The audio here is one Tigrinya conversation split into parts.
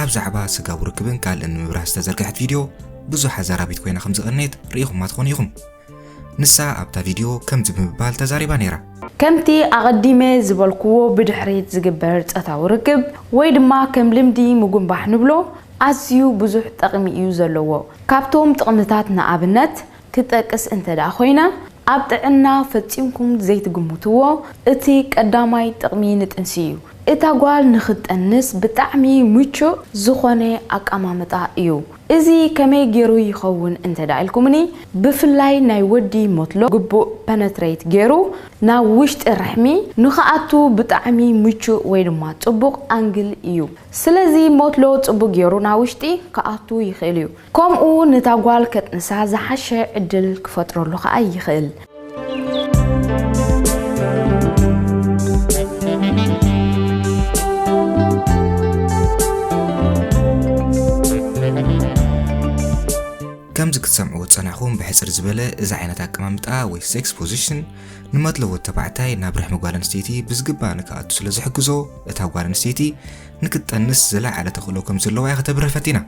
ኣብ ዛዕባ ስጋዊ ርክብን ካልእን ንምብራህ ዝተዘርግሐት ቪድዮ ብዙሕ ኣዛራቢት ኮይና ከም ዝቐነየት ርኢኹማ ትኾኑ ኢኹም። ንሳ ኣብታ ቪድዮ ከምዚ ብምባል ተዛሪባ ነይራ። ከምቲ ኣቐዲመ ዝበልክዎ ብድሕሪት ዝግበር ጸታዊ ርክብ ወይ ድማ ከም ልምዲ ምጉንባሕ ንብሎ ኣዝዩ ብዙሕ ጠቕሚ እዩ ዘለዎ። ካብቶም ጥቕምታት ንኣብነት ክትጠቅስ እንተድኣ ኮይነ፣ ኣብ ጥዕና ፈጺምኩም ዘይትግምትዎ እቲ ቀዳማይ ጥቕሚ ንጥንሲ እዩ። እታ ጓል ንኽትጠንስ ብጣዕሚ ምቹእ ዝኾነ ኣቀማምጣ እዩ። እዚ ከመይ ጌሩ ይኸውን እንተድኣ ኢልኩምኒ፣ ብፍላይ ናይ ወዲ ሞትሎ ግቡእ ፐነትረይት ጌሩ ናብ ውሽጢ ርሕሚ ንኽኣቱ ብጣዕሚ ምቹእ ወይ ድማ ጽቡቕ ኣንግል እዩ። ስለዚ ሞትሎ ጽቡቕ ጌሩ ናብ ውሽጢ ክኣቱ ይኽእል እዩ። ከምኡ ነታ ጓል ከጥንሳ ዝሓሸ ዕድል ክፈጥረሉ ከኣ ይኽእል። ከምዚ ክትሰምዕዎ ዝጸናሕኩም ብሕጽር ዝበለ እዚ ዓይነት ኣቀማምጣ ወይ ሴክስ ፖዚሽን ንመድሎ ወዲ ተባዕታይ ናብ ርሕሚ ጓል ኣንስተይቲ ብዝግባእ ንክኣቱ ስለ ዝሕግዞ እታ ጓል ኣንስተይቲ ንክትጠንስ ዝለዓለ ተኽእሎ ከም ዘለዋ እያ ከተብርህ ፈቲና።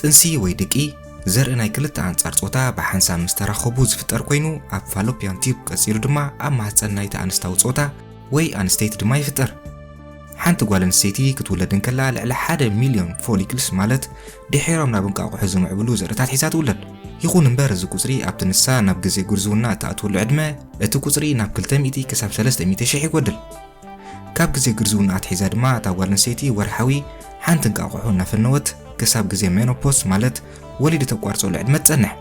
ጥንሲ ወይ ድቂ፣ ዘርኢ ናይ ክልተ ኣንጻር ጾታ ብሓንሳብ ምስ ተራኸቡ ዝፍጠር ኮይኑ፣ ኣብ ፋሎፒያን ቲዩብ ቀጺሉ ድማ ኣብ ማህጸን ናይቲ ኣንስታዊ ጾታ ወይ ኣንስተይቲ ድማ ይፍጠር። ሓንቲ ጓል ኣንስተይቲ ክትውለድ እንከላ ልዕሊ ሓደ ሚልዮን ፎሊክልስ ማለት ድሒሮም ናብ እንቃቑሖ ዝምዕብሉ ዘርእታት ሒዛ ትውለድ። ይኹን እምበር እዚ ቁጽሪ ኣብቲ ንሳ ናብ ግዜ ጉርዝውና እትኣትወሉ ዕድመ እቲ ቁጽሪ ናብ ክልተ ሚእቲ ክሳብ ሰለስተ ሚእቲ ሽሕ ይጎድል። ካብ ግዜ ግርዝውና ኣትሒዛ ድማ እታ ጓል ኣንስተይቲ ወርሓዊ ሓንቲ እንቃቑሖ እናፈነወት ክሳብ ግዜ ሜኖፖስ ማለት ወሊዲ ተቋርጸሉ ዕድመ ትጸንሕ።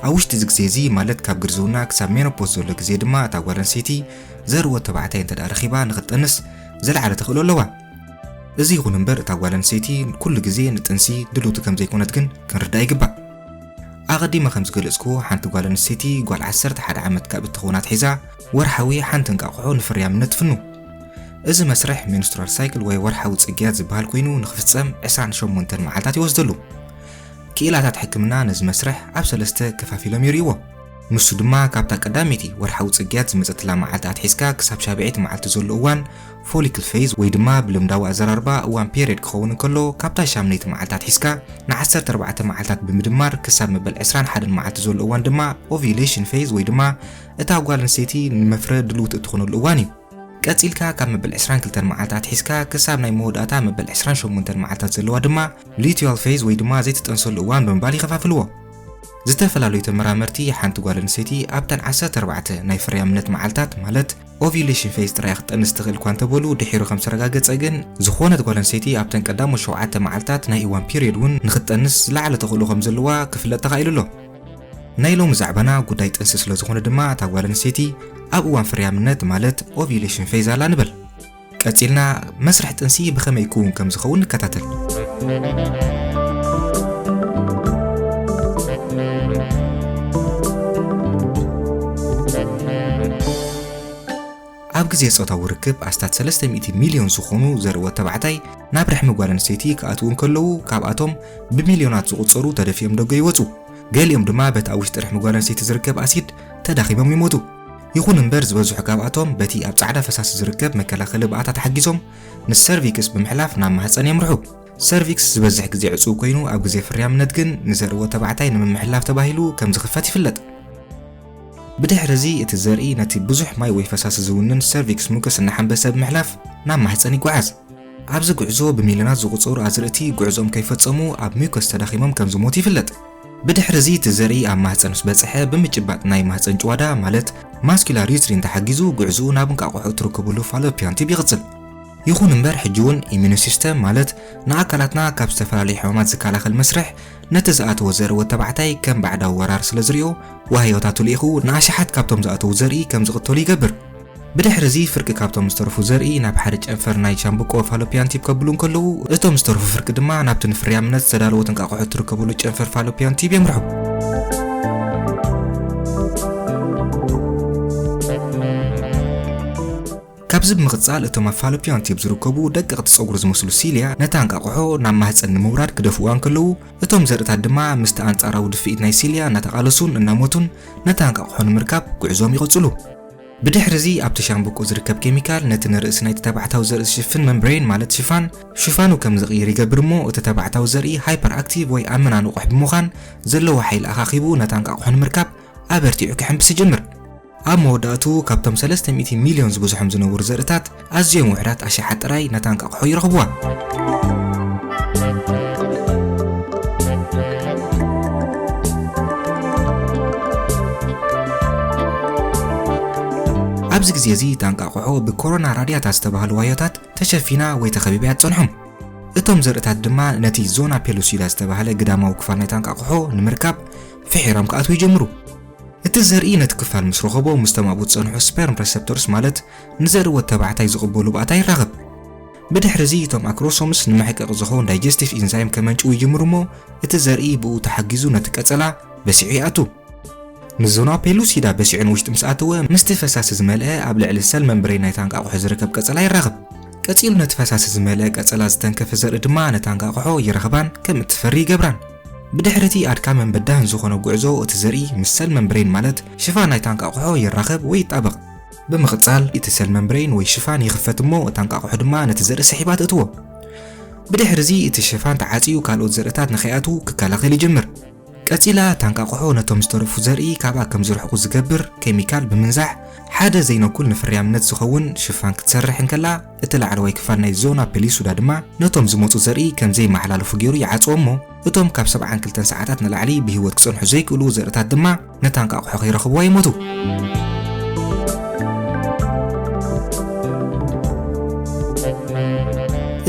ኣብ ውሽጢ እዚ ግዜ እዚ ማለት ካብ ግርዝውና ክሳብ ሜኖፖስ ዘሎ ግዜ ድማ እታ ጓል ኣንስተይቲ ዘርኢ ወድ ተባዕታይ እንተድኣ ረኺባ ንኽትጠንስ ዝለዓለ ተኽእሎ ኣለዋ። እዚ ይኹን እምበር እታ ጓል ኣንስተይቲ ኩሉ ግዜ ንጥንሲ ድልውቲ ከም ዘይኮነት ግን ክንርዳእ ይግባእ። ኣቐዲመ ከም ዝገለጽክዎ ሓንቲ ጓል ኣንስተይቲ ጓል ዓሰርተ ሓደ ዓመት ካብ እትኸውን ኣትሒዛ ወርሓዊ ሓንቲ እንቃቑሖ ንፍርያም ነትፍኑ። እዚ መስርሕ ሜንስትራል ሳይክል ወይ ወርሓዊ ጽግያት ዝበሃል ኮይኑ ንክፍጸም 28 መዓልታት ይወስደሉ። ክኢላታት ሕክምና ነዚ መስርሕ ኣብ ሰለስተ ከፋፊሎም ይርእይዎ። ንሱ ድማ ካብታ ቀዳመይቲ ወርሓዊ ጽግያት ዝመጸትላ መዓልቲ ኣትሒዝካ ክሳብ ሻብዐይቲ መዓልቲ ዘሎ እዋን ፎሊክል ፌዝ ወይ ድማ ብልምዳዊ ኣዘራርባ እዋን ፔሪድ ክኸውን እንከሎ ካብታ ሻምነይቲ መዓልቲ ኣትሒዝካ ን14 መዓልታት ብምድማር ክሳብ መበል 21 መዓልቲ ዘሎ እዋን ድማ ኦቪሌሽን ፌዝ ወይ ድማ እታ ጓል ኣንስተይቲ ንመፍረ ድልውቲ እትኾነሉ እዋን እዩ። ቀጺልካ ካብ መበል 22 መዓልቲ ኣትሒዝካ ክሳብ ናይ መወዳእታ መበል 28 መዓልታት ዘለዋ ድማ ሉቲዋል ፌዝ ወይ ድማ ዘይትጠንሰሉ እዋን ብምባል ይኸፋፍልዎ። ዝተፈላለዩ ተመራመርቲ ሓንቲ ጓል ኣንስተይቲ ኣብተን 14 ናይ ፍርያምነት መዓልታት ማለት ኦቪሌሽን ፌዝ ጥራይ ክትጠንስ ትኽእል እኳ እንተበሉ ድሒሩ ከም ዝተረጋገጸ ግን ዝኾነት ጓል ኣንስተይቲ ኣብተን ቀዳሞት ሸውዓተ መዓልታት ናይ እዋን ፒሪዮድ እውን ንክትጠንስ ዝለዓለ ተኽእሎ ከም ዘለዋ ክፍለጥ ተኻኢሉ ኣሎ። ናይ ሎሚ ዛዕባና ጉዳይ ጥንሲ ስለ ዝኾነ ድማ እታ ጓል ኣንስተይቲ ኣብ እዋን ፍርያምነት ማለት ኦቪዩሌሽን ፌዝ ኣላ ንበል። ቀጺልና መስርሕ ጥንሲ ብኸመይ ክውን ከም ዝኸውን ንከታተል። ኣብ ግዜ ጾታዊ ርክብ ኣስታት 300 ሚልዮን ዝኾኑ ዘርእዎ ተባዕታይ ናብ ርሕሚ ጓል ኣንስተይቲ ክኣትዉ እንከለዉ ካብኣቶም ብሚልዮናት ዝቑጸሩ ተደፊኦም ደጎ ይወጹ። ገሊኦም ድማ በቲ ኣብ ውሽጢ ርሕሚ ጓል ኣንስተይቲ ዝርከብ ኣሲድ ተዳኺሞም ይሞቱ። ይኹን እምበር ዝበዝሑ ካብኣቶም በቲ ኣብ ጻዕዳ ፈሳሲ ዝርከብ መከላኸሊ ብኣታ ተሓጊዞም ምስ ሰርቪክስ ብምሕላፍ ናብ ማህጸን የምርሑ። ሰርቪክስ ዝበዝሕ ግዜ ዕጹው ኮይኑ ኣብ ግዜ ፍርያምነት ግን ንዘርእዎ ተባዕታይ ንምምሕላፍ ተባሂሉ ከም ዝኽፈት ይፍለጥ። ብድሕሪ እዚ እቲ ዘርኢ ነቲ ብዙሕ ማይ ወይ ፈሳሲ ዝውንን ሰርቪክስ ሙከስ እናሓንበሰ ብምሕላፍ ናብ ማህጸን ይጓዓዝ። ኣብዚ ጉዕዞ ብሚልዮናት ዝቑጸሩ ኣዝርእቲ ጉዕዞኦም ከይፈጸሙ ኣብ ሚውከስ ተዳኺሞም ከም ዝሞቱ ይፍለጥ። ብድሕሪ እዚ እቲ ዘርኢ ኣብ ማህጸን ምስ በጽሐ ብምጭባጥ ናይ ማህጸን ጭዋዳ ማለት ማስኩላር ዩትሪን ተሓጊዙ ጉዕዝኡ ናብ እንቃቆሖ እትርክብሉ ፋሎፒያን ቲዩብ ይቕጽል። ይኹን እምበር ሕጂውን ኢሚኑ ሲስተም ማለት ንኣካላትና ካብ ዝተፈላለዩ ሕማማት ዝከላኸል መስርሕ ነቲ ዝኣተዎ ዘርኢ ወድ ተባዕታይ ከም ባዕዳዊ ወራር ስለ ዝሪኦ ዋህዮታቱ ልኢኹ ንኣሽሓት ካብቶም ዝኣተዉ ዘርኢ ከም ዝቕተሉ ይገብር። ብድሕርዚ ፍርቂ ካብቶም ዝተረፉ ዘርኢ ናብ ሓደ ጨንፈር ናይ ሻምብቆ ፋሎፒያን ቲብ ከብሉ እንከለዉ፣ እቶም ዝተረፉ ፍርቂ ድማ ናብቲ ንፍርያምነት ዝተዳለወ ትንቃቆሖ እትርከበሉ ጨንፈር ፋሎፒያን ቲብ የምርሑ። ካብዚ ብምቕጻል እቶም ኣብ ፋሎፒያን ቲብ ዝርከቡ ደቀቕቲ ጸጉሪ ዝመስሉ ሲልያ ነታ እንቃቆሖ ናብ ማህጸን ንምውራድ ክደፍኡዋ እንከለዉ፣ እቶም ዘርእታት ድማ ምስቲ ኣንጻራዊ ድፍኢት ናይ ሲልያ እናተቓለሱን እናሞቱን ነታ እንቃቆሖ ንምርካብ ጉዕዞኦም ይቕጽሉ። ብድሕርዚ ኣብቲ ሻምብቆ ዝርከብ ኬሚካል ነቲ ንርእሲ ናይቲ ተባዕታዊ ዘርኢ ዝሽፍን መምብሬን ማለት ሽፋን ሽፋኑ ከም ዝቕይር ይገብር እሞ እቲ ተባዕታዊ ዘርኢ ሃይፐር ኣክቲቭ ወይ ኣብ ምና ንቑሕ ብምዃን ዘለዎ ሓይሊ ኣኻኺቡ ነታ እንቃቑሖ ንምርካብ ኣበርቲዑ ክሕምብስ ይጅምር። ኣብ መወዳእትኡ ካብቶም ሰለስተ ሚእቲ ሚልዮን ዝብዝሖም ዝነበሩ ዘርእታት ኣዝዮም ውሕዳት ኣሽሓት ጥራይ ነታ እንቃቑሖ ይረኽቡዋ። ኣብዚ ግዜ እዚ እታ እንቃቑሖ ብኮሮና ራድያታ ዝተባህሉ ዋዮታት ተሸፊና ወይ ተኸቢባ እያ ትጸንሖም። እቶም ዘርእታት ድማ ነቲ ዞና ፔሉሲዳ ዝተባህለ ግዳማዊ ክፋል ናይታ እንቃቑሖ ንምርካብ ፍሒሮም ክኣትዉ ይጀምሩ። እቲ ዘርኢ ነቲ ክፋል ምስ ረኸቦ ምስ ተማእቡ ዝጸንሑ ስፐርም ረሰፕተርስ ማለት ንዘርወት ተባዕታይ ዝቕበሉ ባእታ ይራኸብ። ብድሕሪ እዚ እቶም ኣክሮሶምስ ንመሕቀቒ ዝኸውን ዳይጀስቲቭ ኢንዛይም ከመንጭው ይጅምሩ እሞ እቲ ዘርኢ ብኡ ተሓጊዙ ነቲ ቀጸላ በሲዑ ይኣቱ። ንዞና ፔሉሲዳ በሲዑ ንውሽጢ ምስ ኣተወ ምስቲ ፈሳሲ ዝመልአ ኣብ ልዕሊ ሰል መምብሬን ናይታ እንቃቑሖ ዝርከብ ቀጸላ ይራኸብ። ቀጺሉ ነቲ ፈሳሲ ዝመልአ ቀጸላ ዝተንከፈ ዘርኢ ድማ ነታ እንቃቑሖ ይረኽባን ከም እትፈሪ ይገብራን። ብድሕሪ እቲ ኣድካምን በዳህን ዝኾነ ጉዕዞ እቲ ዘርኢ ምስ ሰል መምብሬን ማለት ሽፋን ናይታ እንቃቑሖ ይራኸብ ወይ ይጣበቕ። ብምቕጻል እቲ ሰል መምብረይን ወይ ሽፋን ይኽፈት እሞ እታ እንቃቑሖ ድማ ነቲ ዘርኢ ስሒባ ትእትዎ። ብድሕሪ እዚ እቲ ሽፋን ተዓጽዩ ካልኦት ዘርእታት ንኸይኣትዉ ክከላኸል ይጅምር። ቀጺላ እታ እንቃቑሖ ነቶም ዝተረፉ ዘርኢ ካብኣ ከም ዝርሕቁ ዝገብር ኬሚካል ብምንዛሕ ሓደ ዘይነኩል ንፍርያምነት ዝኸውን ሽፋን ክትሰርሕ እንከላ፣ እቲ ላዕለዋይ ክፋል ናይ ዞና ፔሊሱዳ ድማ ነቶም ዝመጹ ዘርኢ ከም ዘይመሓላለፉ ገይሩ ይዓጽዎ እሞ እቶም ካብ ሰብዓን ክልተን ሰዓታት ንላዕሊ ብህይወት ክጸንሑ ዘይክእሉ ዘርእታት ድማ ነታ እንቃቑሖ ከይረኽብዋ ይሞቱ።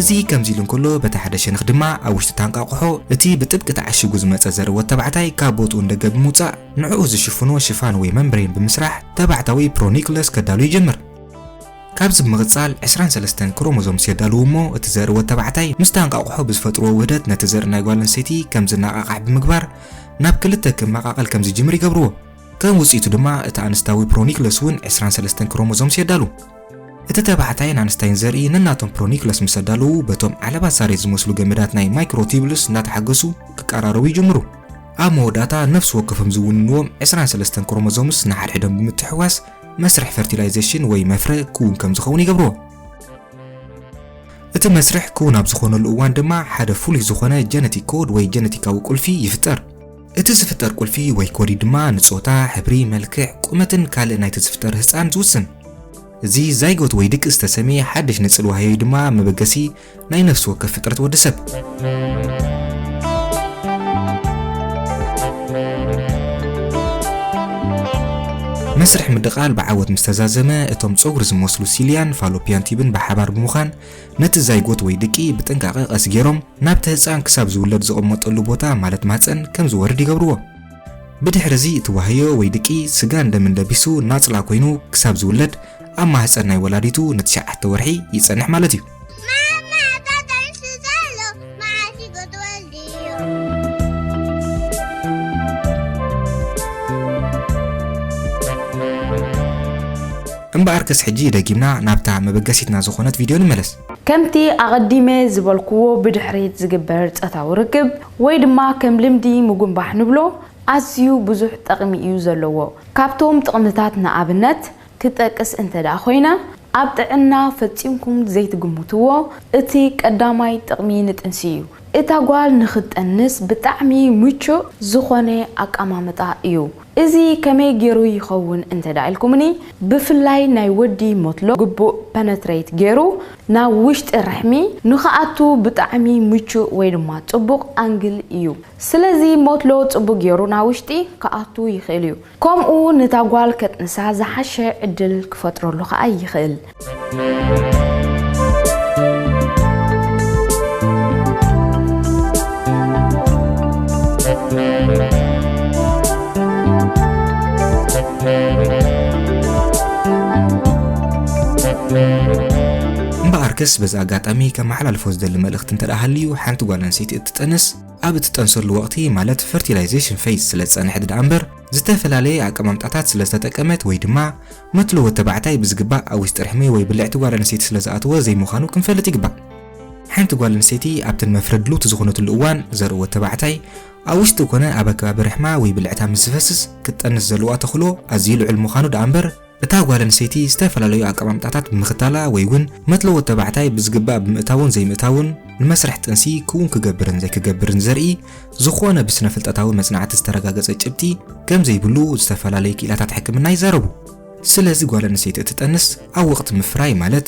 እዚ ከምዚ ኢሉ እንከሎ በቲ ሓደ ሸነኽ ድማ ኣብ ውሽጢ ታንቃቑሖ እቲ ብጥብቂ ተዓሺጉ ዝመጸ ዘርኢ ወድ ተባዕታይ ካብ ቦትኡ እንደገ ብምውጻእ ንዕኡ ዝሽፍኖ ሽፋን ወይ መምብሬን ብምስራሕ ተባዕታዊ ፕሮኒክለስ ከዳሉ ይጅምር። ካብዚ ብምቕጻል ዕስራን ሰለስተን ክሮሞዞምስ የዳልዉ እሞ እቲ ዘርኢ ወድ ተባዕታይ ምስታ እንቋቑሖ ብዝፈጥርዎ ውህደት ነቲ ዘርኢ ናይ ጓል ኣንስተይቲ ከም ዝነቓቓሕ ብምግባር ናብ ክልተ ክመቓቐል ከም ዝጅምር ይገብርዎ። ከም ውጽኢቱ ድማ እቲ ኣንስታዊ ፕሮኒክለስ እውን ዕስራን ሰለስተን ክሮሞዞምስ የዳሉ። እቲ ተባዕታይን ኣንስታይን ዘርኢ ነናቶም ፕሮኒክለስ ምስ ኣዳለዉ በቶም ዓለባ ሳሬት ዝመስሉ ገመዳት ናይ ማይክሮቲብልስ እናተሓገሱ ክቀራረቡ ይጅምሩ። ኣብ መወዳእታ ነፍሲ ወከፎም ዝውንንዎም ዕስራን ሰለስተን ክሮሞዞምስ ንሓድሕዶም ብምትሕውዋስ መስርሕ ፈርቲላይዜሽን ወይ መፍረ ክውን ከም ዝኸውን ይገብርዎ። እቲ መስርሕ ክውን ኣብ ዝኾነሉ እዋን ድማ ሓደ ፍሉይ ዝኾነ ጀነቲክ ኮድ ወይ ጀነቲካዊ ቁልፊ ይፍጠር። እቲ ዝፍጠር ቁልፊ ወይ ኮዲ ድማ ንጾታ፣ ሕብሪ፣ መልክዕ፣ ቁመትን ካልእ ናይቲ ዝፍጠር ህጻን ዝውስን። እዚ ዛይጎት ወይ ድቂ ዝተሰምየ ሓድሽ ንጽል ዋህዮይ ድማ መበገሲ ናይ ነፍሲ ወከፍ ፍጥረት ወዲ ሰብ። መስርሕ ምድቓል ብዓወት ምስ ተዛዘመ፣ እቶም ጸጉሪ ዝመስሉ ሲልያን ፋሎፒያን ቲብን ብሓባር ብምዃን ነቲ ዛይጎት ወይ ድቂ ብጥንቃቐ ቀስ ገይሮም ናብቲ ህጻን ክሳብ ዝውለድ ዝቕመጠሉ ቦታ ማለት ማህጸን ከም ዝወርድ ይገብርዎ። ብድሕርዚ እቲ ዋህዮ ወይ ድቂ ስጋን ደምን ለቢሱ ናጽላ ኮይኑ ክሳብ ዝውለድ ኣብ ማህጸን ናይ ወላዲቱ ንትሽዓተ ወርሒ ይጸንሕ ማለት እዩ። እምበኣርከስ ሕጂ ደጊምና ናብታ መበገሲትና ዝኾነት ቪድዮ ንመለስ። ከምቲ ኣቐዲመ ዝበልክዎ ብድሕሪት ዝግበር ጸታዊ ርክብ ወይ ድማ ከም ልምዲ ምጉንባሕ ንብሎ ኣዝዩ ብዙሕ ጠቕሚ እዩ ዘለዎ። ካብቶም ጥቕምታት ንኣብነት ክትጠቅስ እንተድኣ ኮይነ፣ ኣብ ጥዕና ፈጺምኩም ዘይትግምትዎ እቲ ቀዳማይ ጥቕሚ ንጥንሲ እዩ። እታ ጓል ንኽትጠንስ ብጣዕሚ ምቹእ ዝኾነ ኣቀማምጣ እዩ። እዚ ከመይ ጌሩ ይኸውን እንተድኣ ኢልኩምኒ፣ ብፍላይ ናይ ወዲ ሞትሎ ግቡእ ፐነትረይት ጌሩ ናብ ውሽጢ ርሕሚ ንኽኣቱ ብጣዕሚ ምቹእ ወይ ድማ ጽቡቕ ኣንግል እዩ። ስለዚ ሞትሎ ጽቡቕ ጌሩ ናብ ውሽጢ ክኣቱ ይኽእል እዩ። ከምኡ ነታ ጓል ከጥንሳ ዝሓሸ ዕድል ክፈጥረሉ ከኣ ይኽእል። እምበኣርከስ በዚ ኣጋጣሚ ከመሓላልፎ ዝደሊ መልእኽቲ እንተደኣ ሃልዩ ሓንቲ ጓል ኣንስተይቲ እትጥንስ ኣብ እትጠንሰሉ ወቕቲ ማለት ፈርቲላይዜሽን ፌዝ ስለ ዝጸንሐት ደኣ እምበር ዝተፈላለየ ኣቀማምጣታት ስለ ዝተጠቀመት ወይ ድማ መትሎ ወዲ ተባዕታይ ብዝግባእ ኣብ ውሽጢ ርሕሚ ወይ ብልዕቲ ጓል ኣንስተይቲ ስለ ዝኣተወ ዘይምዃኑ ክንፈልጥ ይግባእ። ሓንቲ ጓል ኣንስተይቲ ኣብተን መፍረድ ሉቲ ዝኾነትሉ እዋን ዘርኢ ወዲ ተባዕታይ ኣብ ውሽጢ ኮነ ኣብ ኣከባቢ ርሕማ ወይ ብልዕታ ምስ ዝፈስስ ክትጠንስ ዘለዋ ተኽእሎ ኣዝዩ ልዑል ምዃኑ ደኣ እምበር እታ ጓል ኣንስተይቲ ዝተፈላለዩ ኣቀማምጣታት ብምኽታላ ወይ እውን መትለዎ ተባዕታይ ብዝግባእ ብምእታውን ዘይምእታውን ንመስርሕ ጥንሲ ክውን ክገብርን ዘይክገብርን ዘርኢ ዝኾነ ብስነፍልጠታዊ መጽናዕቲ ዝተረጋገጸ ጭብጢ ከም ዘይብሉ ዝተፈላለዩ ክኢላታት ሕክምና ይዛረቡ። ስለዚ ጓል ኣንስተይቲ እትጠንስ ኣብ ወቕቲ ምፍራይ ማለት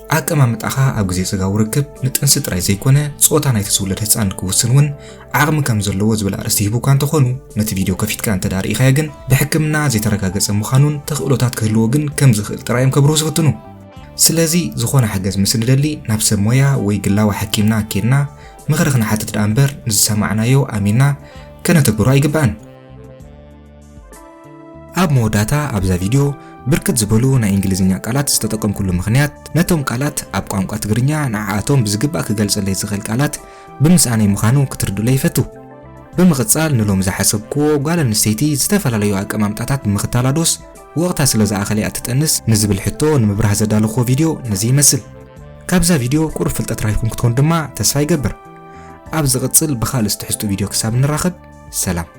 ኣቀማምጣኻ ኣብ ግዜ ስጋዊ ርክብ ንጥንሲ ጥራይ ዘይኮነ ጾታ ናይቲ ዝውለድ ህጻን ክውስን እውን ዓቕሚ ከም ዘለዎ ዝብል ኣርእስቲ ሂቡካ እንተኾኑ ነቲ ቪድዮ ከፊትካ እንተ ርኢኻዮ ግን ብሕክምና ዘይተረጋገጸ ምዃኑን ተኽእሎታት ክህልዎ ግን ከም ዝኽእል ጥራይ እዮም ከብርሁ ዝፍትኑ። ስለዚ ዝኾነ ሓገዝ ምስ ንደሊ ናብ ሰብ ሞያ ወይ ግላዊ ሓኪምና ኬድና ምኽሪ ክንሓትት ደኣ እምበር ንዝሰማዕናዮ ኣሚንና ከነተግብሮ ኣይግባእን። ኣብ መወዳእታ ኣብዛ ቪድዮ ብርክት ዝበሉ ናይ እንግሊዝኛ ቃላት ዝተጠቀምኩሉ ምኽንያት ነቶም ቃላት ኣብ ቋንቋ ትግርኛ ንዓኣቶም ብዝግባእ ክገልጸለይ ዝኽእል ቃላት ብምስኣነይ ምዃኑ ክትርድኡለይ ይፈቱ። ብምቕጻል ንሎሚ ዝሓሰብክዎ ጓል ኣንስተይቲ ዝተፈላለዩ ኣቀማምጣታት ብምኽታላ ዶስ ወቕታ ስለ ዝኣኸለ እያ ትጠንስ ንዝብል ሕቶ ንምብራህ ዘዳለኹዎ ቪድዮ ነዚ ይመስል። ካብዛ ቪድዮ ቁሩብ ፍልጠት ራይኩም ክትኮኑ ድማ ተስፋ ይገብር። ኣብ ዝቕጽል ብኻልእ ዝትሕዝጡ ቪድዮ ክሳብ ንራኸብ ሰላም።